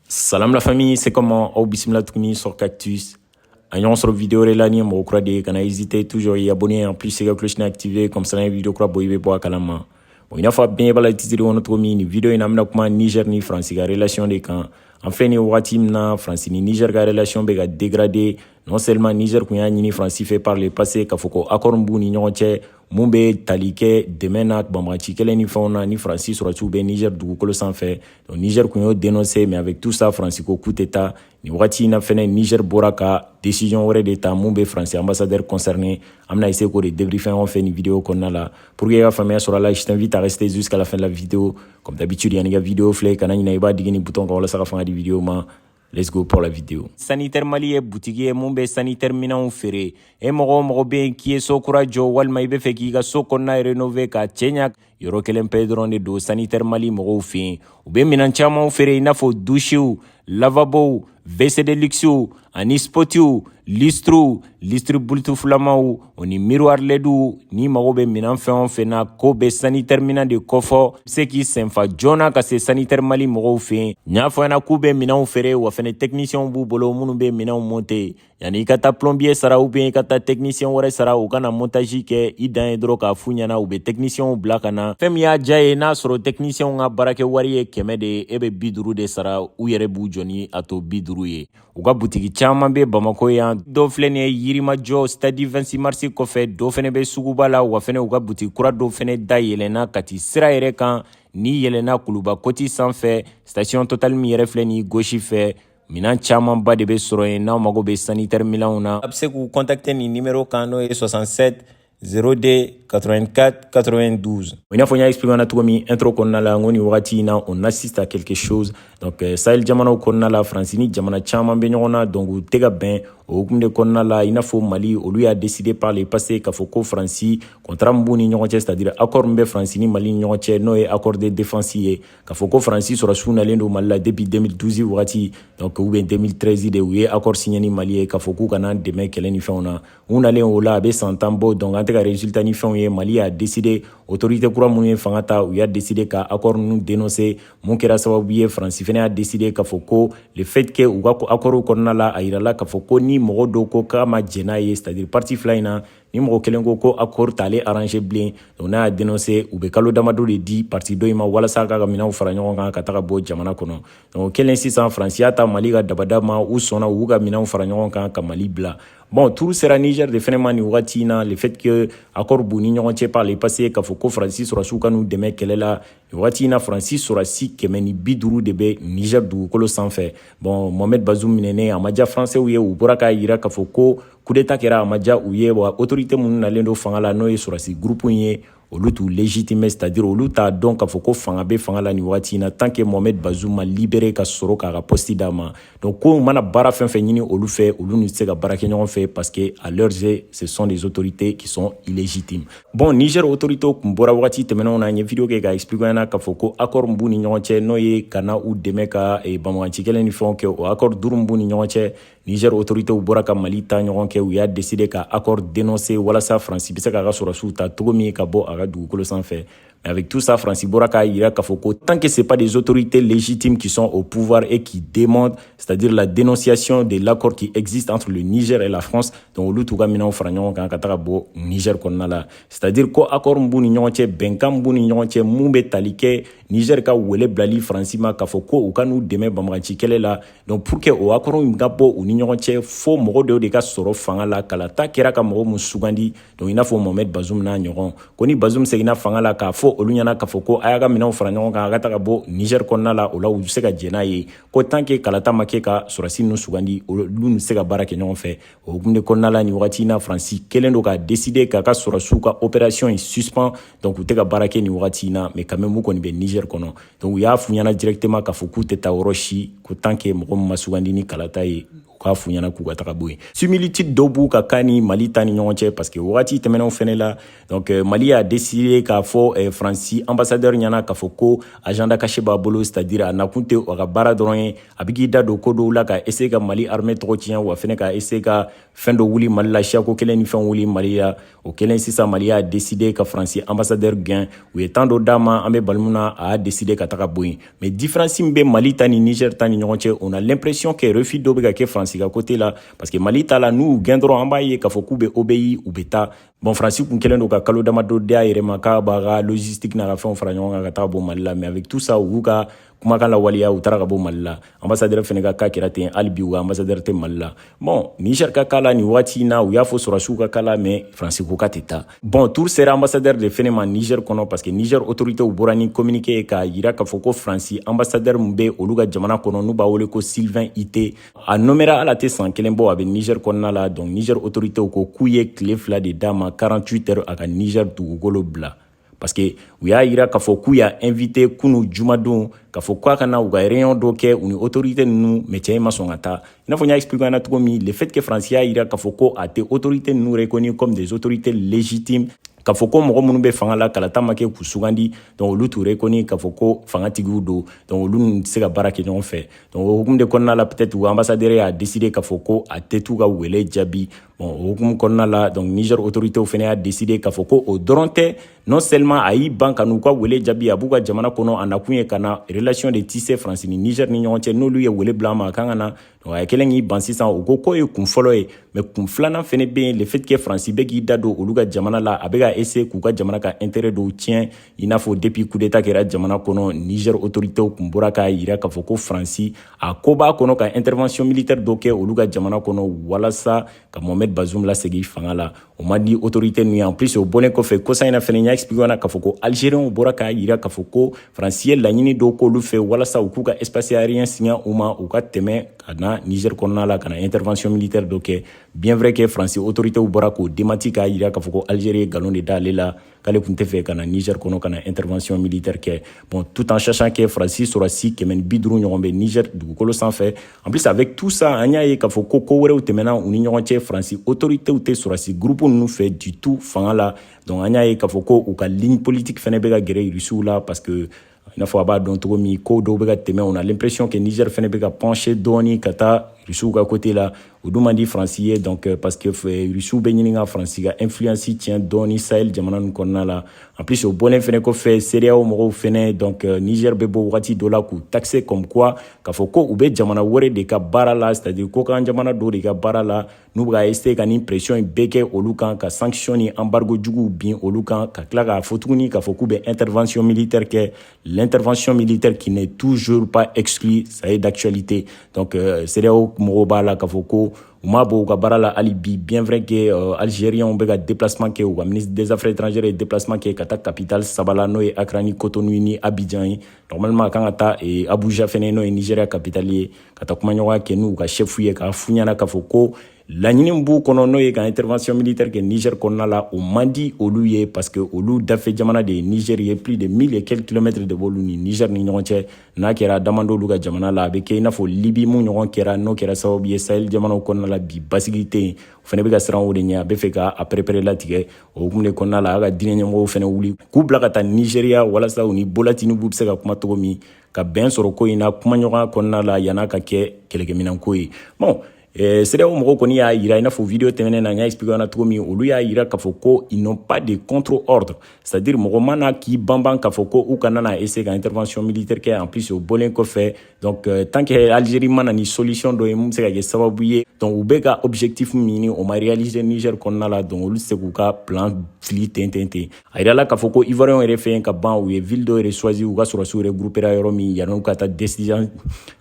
Salam la famille, c'est comment Aw bismillah tukuni sur Cactus. An ɲɔgɔn sɔrɔ vidéo de la ni mɔgɔ kura de ye kana hésiter toujours i abonner en plus se ka cloche activer comme ça n'an ye vidéo kura bɔ i bɛ bɔ a kalama bon i n'a fɔ a bɛɛ b'a la titre kɔnɔ cogo min nin vidéo in na an bɛna kuma Niger ni France ka relation de kan an filɛ nin wagati min na France ni Niger ka relation bɛ ka dégrader non seulement Niger kun y'a ɲini France fɛ par le passé k'a fɔ ko accord min b'u ni ɲɔgɔn cɛ mun bɛ tali kɛ dɛmɛ na banbagaci kɛlɛ ni fɛnw na ni faransi sɔrɔsiw bɛ niger dugukolo sanfɛ donc niger kun y'o denonse mais avec tout ça faransi ko k'u tɛ taa nin wagati in na fɛnɛ niger bɔra ka décision wɛrɛ de ta mun bɛ faransi ambassadeur concerné an bɛna essayer k'o de débriefin aw fɛ nin video kɔnɔna la pour que i ka faamuya sɔrɔ a la je t'invite à rester jusqu'à la fin de la vidéo comme d'habitude yanni ka vidéo filɛ kana ɲinɛ i b'a digi nin bouton kan walasa ka fanga di vidéo ma Let's go pour la vidéo. Sanitaire Mali ye butigi ye mun bɛ sanitaire minɛnw feere. E mɔgɔ o mɔgɔ bɛ yen k'i ye so kura jɔ walima i bɛ fɛ k'i ka so kɔnɔna rénover k'a cɛɲa yɔrɔ kelen pe dɔrɔn de don sanitaire Mali mɔgɔw fɛ yen. U bɛ minɛn camanw feere i n'a fɔ douchew, lavabow, WC de luxew ani spotiw, lustrew, lustre bluetoothlamaw, o ni miriwari lɛdiw n'i mago bɛ minɛn fɛn o fɛn na k'o bɛ sanitɛri minɛn de kofɔ i bɛ se k'i senfa joona ka se sanitɛri mali mɔgɔw fɛ yen n y'a fɔ ɲɛna k'u bɛ minɛnw feere wa fana tɛkinisiyɛnw b'u bolo minnu bɛ minɛnw monte yanni i ka taa plɔnbiye sara ubiyɛn i ka taa tɛkinisiyɛn wɛrɛ sara u ka na montazi kɛ i dan ye dɔrɔn k'a f'u ɲɛna u bɛ tɛkinisiyɛnw bila ka na fɛn min y'a diya ye n'a sɔrɔ tɛkinisiyɛnw ka baarakɛ wari ye kɛmɛ de ye e bɛ bi duuru de sara u yɛrɛ b'u jɔ ni a to bi duuru ye u ka butigi caaman be bamako yan dɔ filɛ nin ye yirimajɔ stadi 26 marisi kɔfɛ dɔ fɛnɛ be suguba la wa fɛnɛ u ka butigi kura dɔ fɛnɛ da yɛlɛnna kati sira yɛrɛ kan n'i yɛlɛnna kuluba koti sanfɛ station total min yɛrɛ filɛ ni gosi fɛ minan caamanba de be sɔrɔ yen n'aw mago be sanitɛri milanw na a be se k'u kɔntakte nin nimero kan n'o ye 67 02 84 92. I n'a fɔ n y'a expliquer na cogo min intro kɔnɔna la n ko nin wagati in na on assiste à quelque chose donc euh, sahel jamanaw kɔnɔna la faransi ni jamana caman bɛ ɲɔgɔn na donc u tɛ ka bɛn o hukumu de kɔnɔna la i n'a fɔ mali olu y'a décider par le passé k'a fɔ ko faransi contrat min b'u ni ɲɔgɔn cɛ c'est à dire accord min bɛ faransi ni mali ni ɲɔgɔn cɛ n'o ye accord de défense ye k'a fɔ ko faransi sɔrɔsiw nalen don mali la depuis 2012 wagati donc ou bien 2013 de u ye accord signé ni mali ye k'a fɔ k'u ka na dɛmɛ kɛlɛ ni fɛnw na u nalen o la a bɛ san tan bɔ donc an tɛ ka resultat ni fɛnw ye mali y'a deside autorité kura minnu ye fanga ta u y'a deside ka accord ninnu denonse mun kɛra sababu ye faransi fana y'a deside k'a fɔ ko le fait que u ka accordu kɔnɔna la a yirala k'a fɔ ko ni mɔgɔ dɔ ko k'a ma jɛn n'a ye c'est à dire parti fila in na ni mɔgɔ kelen ko ko accord t'ale arrange bilen donc n'a y'a denonse u bɛ kalo damadɔ de di parti dɔ in ma walasa k'a ka minɛnw fara ɲɔgɔn kan ka taga bɔ jamana kɔnɔ donc kɛlen sisan faransi y'a ta mali ka dabada ma u sɔnna u y'u ka minɛnw fara ɲɔgɔn kan ka mali bila Bon tour sera Niger de fɛnɛ ma nin wagati in na le fait que accord b'u ni ɲɔgɔn cɛ par le passé k'a fɔ ko Faransi sɔrɔdasiw ka n'u dɛmɛ kɛlɛ la nin wagati in na Faransi sɔrɔdasi kɛmɛ ni bi duuru de bɛ Niger dugukolo sanfɛ bon Mohamed Bazoum minɛnen a ma diya Françaisw ye u bɔra k'a yira k'a fɔ ko coup d'état kɛra a ma diya u ye wa autorité minnu nalen don fanga la n'o ye sɔrɔdasi groupe in ye olu t'u légitime c'est à dire olu t'a dɔn k'a fɔ ko fanga bɛ fanga la nin wagati in na tant que mohamed bazoum ma libéré ka sɔrɔ k'a ka poste d'a ma donc ko u mana baara fɛn fɛn ɲini olu fɛ olu n'u tɛ se ka baara kɛ ɲɔgɔn fɛ parce que à leurs yeux ce sont des autorités qui sont illégitimes bon niger autoritéw kun bɔra wagati tɛmɛnenw na n ye video kɛ k'a expliquer aw ɲɛna k'a fɔ ko accord min b'u ni ɲɔgɔn cɛ n'o ye ka na u dɛmɛ ka eh, banbaganci kɛlɛ ni fɛnw kɛ o accord duuru minnu b'u ni ɲɔgɔn cɛ Niger autoritéw bɔra ka Mali ta ɲɔgɔn kɛ u y'a décider ka accord dénoncer walasa France bɛ se k'a ka sɔrɔdasiw ta cogo min ka bɔ a ka dugukolo sanfɛ mais avec tout ça France bɔra k'a yira k'a fɔ ko tant que c'est pas des autorités légitimes qui sont au pouvoir et qui demandent c'est-à-dire la dénonciation de l'accord qui existe entre le Niger et la France donc olu t'u ka minɛnw fara ɲɔgɔn kan ka taa ka bɔ Niger kɔnɔna la c'est-à-dire ko accord min b'u ni ɲɔgɔn cɛ bɛnkan min b'u ni ɲɔgɔn cɛ mun bɛ tali kɛ Niger ka wele bilali France ma k'a fɔ ko u ka n'u dɛmɛ banbaganci kɛlɛ la donc pour que o accord in ka bɔ u ni ɲɔgɔn cɛ fo mɔgɔ dɔw de ka sɔrɔ fanga la kalata kɛra ka mɔgɔ min sugandi donc i n'a fɔ mohamed bazum n'a ɲɔgɔn ko ni bazum seginna fanga la k'a fɔ olu ɲɛna k'a fɔ ko a y'a ka minɛnw fara ɲɔgɔn kan a ka taa ka bɔ niger kɔnɔna la o la u se ka jɛ n'a ye ko tant que kalata ma kɛ ka sɔrɔsi ninnu sugandi olu n'u tɛ se ka baara kɛ ɲɔgɔn fɛ o hukumu de kɔnɔna la nin wagati in na faransi kɛlen don ka décider k'a ka sɔrɔsiw ka opération in suspend donc u tɛ ka baara kɛ nin wagati in na mais quand même u kɔni bɛ niger kɔnɔ donc u y'a f'u ɲɛna directement k'a fɔ k'u tɛ taa yɔrɔ si ko tant que mɔgɔ min ma sugandi ni kalata ye u k'a f'u ɲɛna k'u ka taa ka bɔ yen similitude dɔw b'u ka cas ni mali ta ni ɲɔgɔn cɛ parce que wagati tɛmɛnenw fɛnɛ la donc euh, mali y'a décidé k'a fɔ euh, faransi ambassadeur ɲɛna k'a fɔ ko agenda caché b'a bolo c'est à dire a nakun tɛ a ka baara dɔrɔn ye a bɛ k'i da don ko dɔw la ka essayer ka mali armée tɔgɔ tiɲɛ wa fɛnɛ ka essayer ka fɛn dɔ wuli mali la siyako kɛlɛ ni fɛn wuli mali la o kɛlen sisan mali y'a décider ka faransi ambassadeur gɛn u ye temps dɔ d'a ma an bɛ balimu na a y'a décider ka taa ka bɔ yen mais différence min bɛ mali ta ni niger ta ni ɲɔgɔn cɛ on a l'impression que refus dɔ bɛ ka kɛ faransi ka côté la parce que mali ta la n'u gɛn dɔrɔn an b'a ye k'a fɔ k'u bɛ obéir u bɛ taa bon faransi kun kɛlen don ka kalo damadɔ di a yɛrɛ ma k'a b'a ka logistique n'a ka fɛnw fara ɲɔgɔn kan ka taa ka bɔ mali la mais avec tout ça u y'u ka kumakan lawaleya u taara ka bɔ mali la ambassadeur fɛnɛ ka cas kɛra ten hali bi u ka ambassadeur tɛ mali la bon niger ka cas la nin waati in na u y'a fɔ sɔrɔsiw ka cas la mais faransi ko k'a tɛ taa bon tour sera ambassadeur de fɛnɛ ma niger kɔnɔ parce que niger autoritéw bɔra ni communiqué ye k'a yira k'a fɔ ko faransi ambassadeur min bɛ olu ka jamana kɔnɔ n'u b'a wele ko sylvain itté a nomera ala tɛ san kelen bɔ a bɛ niger kɔnɔna la donc niger autoritéw ko k'u ye tile fila de d'a ma 48 heures a ka niger dugukolo bila parce que u y'a yira k'a fɔ k'u y'a invité kunu jumadon k'a fɔ k'a ka na u ka réunion dɔ kɛ u ni autorité ninnu mais cɛ in ma sɔn ka taa i n'a fɔ n y'a expliquer an na cogo min le fait que Faransi y'a yira k'a fɔ ko a tɛ autorité ninnu reconnu comme des autorités légitimes k'a fɔ ko mɔgɔ minnu bɛ fanga la kalata ma kɛ k'u sugandi donc olu t'u reconnu k'a fɔ ko fangatigiw don donc olu ninnu tɛ se ka baara kɛ ɲɔgɔn fɛ donc o hukumu de kɔnɔna la peut-être u ambassadeur y'a décider k'a fɔ ko a tɛ t'u ka wele jaabi Bon o hukumu kɔnɔna la donc Niger autorités fɛnɛ y'a décider k'a fɔ ko o dɔrɔn tɛ non seulement a y'i ban ka n'u ka wele jaabi a b'u ka jamana kɔnɔ a nakun ye ka na relation de tisser Faransi ni Niger ni ɲɔgɔn cɛ n'olu ye wele bila a ma a kan ka na donc a ye kelen k'i ban sisan u ko k'o ye kun fɔlɔ ye mais kun filanan fɛnɛ bɛ yen le fait que Faransi bɛ k'i da don olu ka jamana la a bɛ ka essayer k'u ka jamana ka intérêt dɔw tiɲɛ i n'a fɔ depuis kudeta kɛra jamana kɔnɔ niger autoritew kun bɔra k'a yira k'a fɔ ko faransi a ko b'a kɔnɔ ka intervention militaire dɔ kɛ olu ka jamana kɔnɔ walasa ka mohamed bazum lasegin fanga la o ma di autorité ninnu ye en plus o bɔlen kɔfɛ kɔsa in na fɛnɛ n y'a expliqué na k'a fɔ ko algérienw bɔra k'a yira k'a fɔ ko faransi ye laɲini dɔw k'olu fɛ walasa u k'u ka espace aérien singa u ma u ka tɛmɛ ka na niger kɔnɔna la ka na intervention militaire dɔ kɛ bien vrai que faransi autoritew bɔra k'o démenti k'a yira k'a fɔ ko algérie ye galon de da ale la k'ale kun tɛ fɛ ka na niger kɔnɔ ka na intervention militaire kɛ bon tout en sachant que faransi sɔrɔsi kɛmɛ ni bi duuru ɲɔgɔn bɛ niger dugukolo sanfɛ en plus avec tout ça an y'a ye k'a fɔ ko ko wɛrɛw tɛmɛna u ni ɲɔgɔn cɛ faransi autoritéw tɛ sɔrɔsi groupe ninnu fɛ du tout fanga la donc an y'a ye k'a fɔ ko u ka ligne politique fɛnɛ bɛ ka gɛrɛ rusiw la parce que i n'a fɔ a b'a dɔn cogo min ko dɔw bɛ ka tɛmɛ on a l'impression que niger fɛnɛ bɛ ka pencher dɔɔni ka taa rusiw ka côté la o dun man di faransi ye donc euh, parce que euh, rusiw bɛ ɲini ka faransi ka influence tiɲɛ dɔɔni sahel jamana ninnu kɔnɔna la en plus o bɔlen fɛnɛ kɔfɛ CEDEAO mɔgɔw fɛnɛ donc euh, niger bɛ bɔ wagati dɔ la k'u taxer comme quoi k'a fɔ ko u bɛ jamana wɛrɛ de ka baara la c'est à dire kɔkan jamana dɔw de ka baara la n'u bɛ ka essayer ka nin pression in bɛɛ kɛ olu kan ka sanction ni embargo juguw bin olu kan ka tila k'a fɔ tuguni k'a fɔ k'u bɛ intervention militaire kɛ l'intervention militaire qui n'est toujours pas exclue ça reste d'actualité donc euh, CEDEAO mɔgɔw b'a la k'a fɔ ko u m'a bɔ u ka baara la hali bi bien vrai que euh, algériens bɛ ka déplacement kɛ u ka ministre des affaires étrangères ye déplacement kɛ ka taa capitale saba la n'o ye Accra ni Cotonou ni Abidjan ye normalement a kan ka taa eh, Abuja fɛnɛ n'o ye Nigeria capitale ye ka taa kumaɲɔgɔnya kɛ n'u ka chef ye k'a f'u ɲɛna k'a fɔ ko laɲini b'u kɔnɔ n'o ye ka intervention militaire kɛ niger kɔnɔna la o man di olu ye parce que olu dafɛ jamana de ye niger ye plus de mille et quelques kilomètres de b'olu ni niger ni ɲɔgɔn cɛ n'a kɛra damando olu ka jamana la a bɛ kɛ i n'a fɔ libi min ɲɔgɔn kɛra n'o kɛra sababu ye sahel jamanaw kɔnɔna la bi basigi tɛ yen o fɛnɛ bɛ ka siran o de ɲɛ a bɛ fɛ ka a pɛrɛpɛrɛ latigɛ o hukumu de kɔnɔna la a ka diinɛ ɲɛmɔgɔw fɛnɛ wuli k'u bila ka taa nizeriya walasa u ni bola tinubu bɛ se ka kuma cogo min ka bɛn sɔrɔ ko in na kumaɲɔgɔnya kɔnɔna la yan'a ka kɛ kɛlɛkɛminɛnko ye bon eh, cedeao mɔgɔw kɔni y'a yira i n'a fɔ video tɛmɛnen na n y'a expliqué na cogo min olu y'a yira k'a fɔ ko ils n'ont pas de contre ordre c'est à dire mɔgɔ ma na k'i banban k'a fɔ ko u kana na essayer ka intervention militaire kɛ en plus o bɔlen kɔfɛ donc euh, tant que algérie ma na ni solution dɔ ye mun bɛ se ka kɛ sababu ye donc u bɛ ka objectif min ɲini o ma réaliser niger kɔnɔna la donc olu tɛ se k'u ka plan fili ten ten ten a yirala k'a fɔ ko ivoirienw yɛrɛ fɛ yen ka ban u ye ville dɔ yɛrɛ choisi u ka sɔrɔsiw yɛrɛ groupera yɔrɔ min yan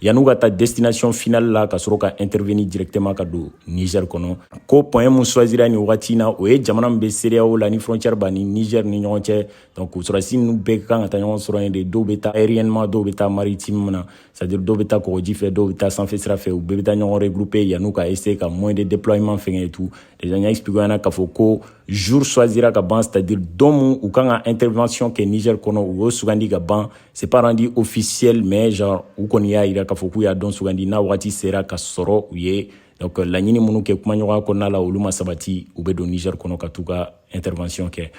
yan'u ka taa destination finale la ka sɔrɔ ka intervenir directement ka don niger kɔnɔ ko point mun choisira nin wagati in na o ye jamana min bɛ cedeao la ni frontière b'a ni niger ni ɲɔgɔn cɛ donc sɔrɔsi ninnu bɛɛ kan ka taa ɲɔgɔn sɔrɔ yen de dɔw bɛ taa aériennement dɔw bɛ taa maritime na c'est-à-dire dɔw bɛ taa kɔgɔji fɛ dɔw bɛ taa sanfɛ sira fɛ u bɛɛ bɛ taa ɲɔgɔn regrouper yan'u ka essayer ka moyen de déploiement fɛngɛ et tout déjà n y'a expliquer ɲɛna k'a fɔ ko jour choisira ka ban c'est-à-dire don min u kan ka intervention kɛ Niger kɔnɔ u y'o sugandi ka ban c'est pas rendu officiel mais genre u kɔni y'a yira k'a fɔ k'u y'a don sugandi n'a wagati sera ka sɔrɔ u ye donc laɲini minnu kɛ kumaɲɔgɔnya kɔnɔna la olu ma sabati u bɛ don Niger kɔnɔ ka t'u ka intervention kɛ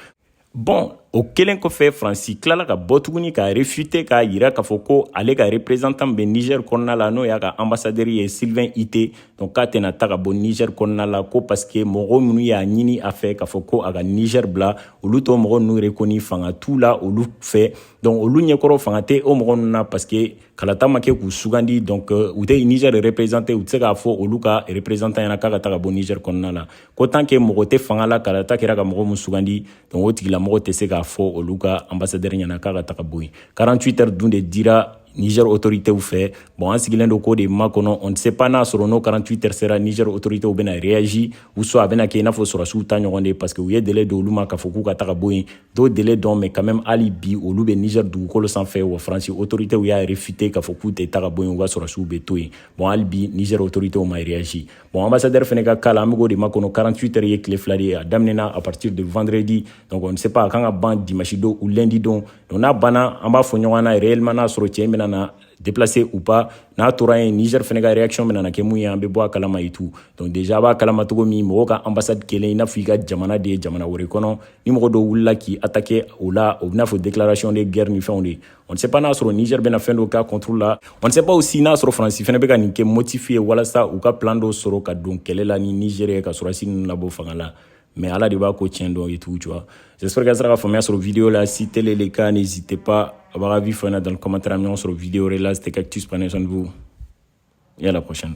Bon o kɛlen kɔfɛ faransi tilala ka bɔ tuguni ka réfuter k'a yira k'a fɔ ko ale ka représentant bɛ niger kɔnɔna la n'o y'a ka ambassadeur ye sylvain itté donc k'a tɛna taa ka bɔ niger kɔnɔna la ko parce que mɔgɔw minnu y'a ɲini a fɛ k'a fɔ ko a ka niger bila olu t'o mɔgɔ ninnu rekoni fanga t'u la olu fɛ donc olu ɲɛkɔrɔ fanga tɛ o mɔgɔ ninnu na parce que kalata ma kɛ k'u sugandi donc u tɛ niger représenter u tɛ se k'a fɔ olu ka représentant ɲɛna k'a ka taa ka bɔ niger kɔnɔna la ko tant que mɔgɔ tɛ fanga la kalata kɛra ka mɔgɔ min sugandi donc o tigilamɔgɔ tɛ se k'a fɔ olu ka ambassadeur ɲɛna k'a ka taa ka bɔ yen 48 heures dun de dira niger autoritew fɛ bon an sigilen don k'o de makɔnɔ on ne sait pas n'a sɔrɔ n'o 48 heures sera niger autoritew bɛna réagi ou soit a bɛna kɛ i n'a fɔ sɔrɔsiw ta ɲɔgɔn de parce que u ye délai d'olu ma k'a fɔ k'u ka taa ka bɔ yen t'o délai dɔn mais quand même hali bi olu bɛ niger dugukolo sanfɛ wa faransi autoritew y'a réfuter k'a fɔ k'u tɛ taa ka bɔ yen u ka sɔrɔsiw bɛ to yen bon hali bi niger autoritew ma réagi Bon, ambassadeur fana ka cas la an bɛ k'o de makɔnɔ 48 heures ye tile fila de ye a daminɛna à partir de vendredi donc on ne sait pas a kan ka ban dimanche don ou lundi don donc n'a banna an b'a fɔ ɲɔgɔn na réellement n'a sɔrɔ cɛ in bɛna na déplacer ou pas n'a tora yen Niger fana ka réaction bɛna na kɛ mun ye an bɛ bɔ a kalama et tout donc déjà a b'a kalama cogo min mɔgɔ ka ambassade kɛlen i n'a fɔ i ka jamana de ye jamana wɛrɛ kɔnɔ ni mɔgɔ dɔw wulila k'i attaquer o la o bɛ n'a fɔ déclaration de guerre ni fɛnw de ye On ne sait pas n'a sɔrɔ Niger bɛna fɛn dɔ k'a contre la. On ne sait pas aussi n'a sɔrɔ France fana bɛ ka nin kɛ motif ye walasa u ka plan dɔ sɔrɔ ka don kɛlɛ la ni Niger ye ka sɔrɔsi ninnu labɔ fanga la. Mais Ala de b'a ko tiɲɛ dɔn et tout tu vois. J'espère que a sera ka faamuya sɔrɔ vidéo la. Si tel est le cas, n'hésitez pas à votre avis dans le commentaire. Ɲɔgɔn sɔrɔ vidéo wɛrɛ la. C'était Cactus, prenez soin de vous. Et à la prochaine.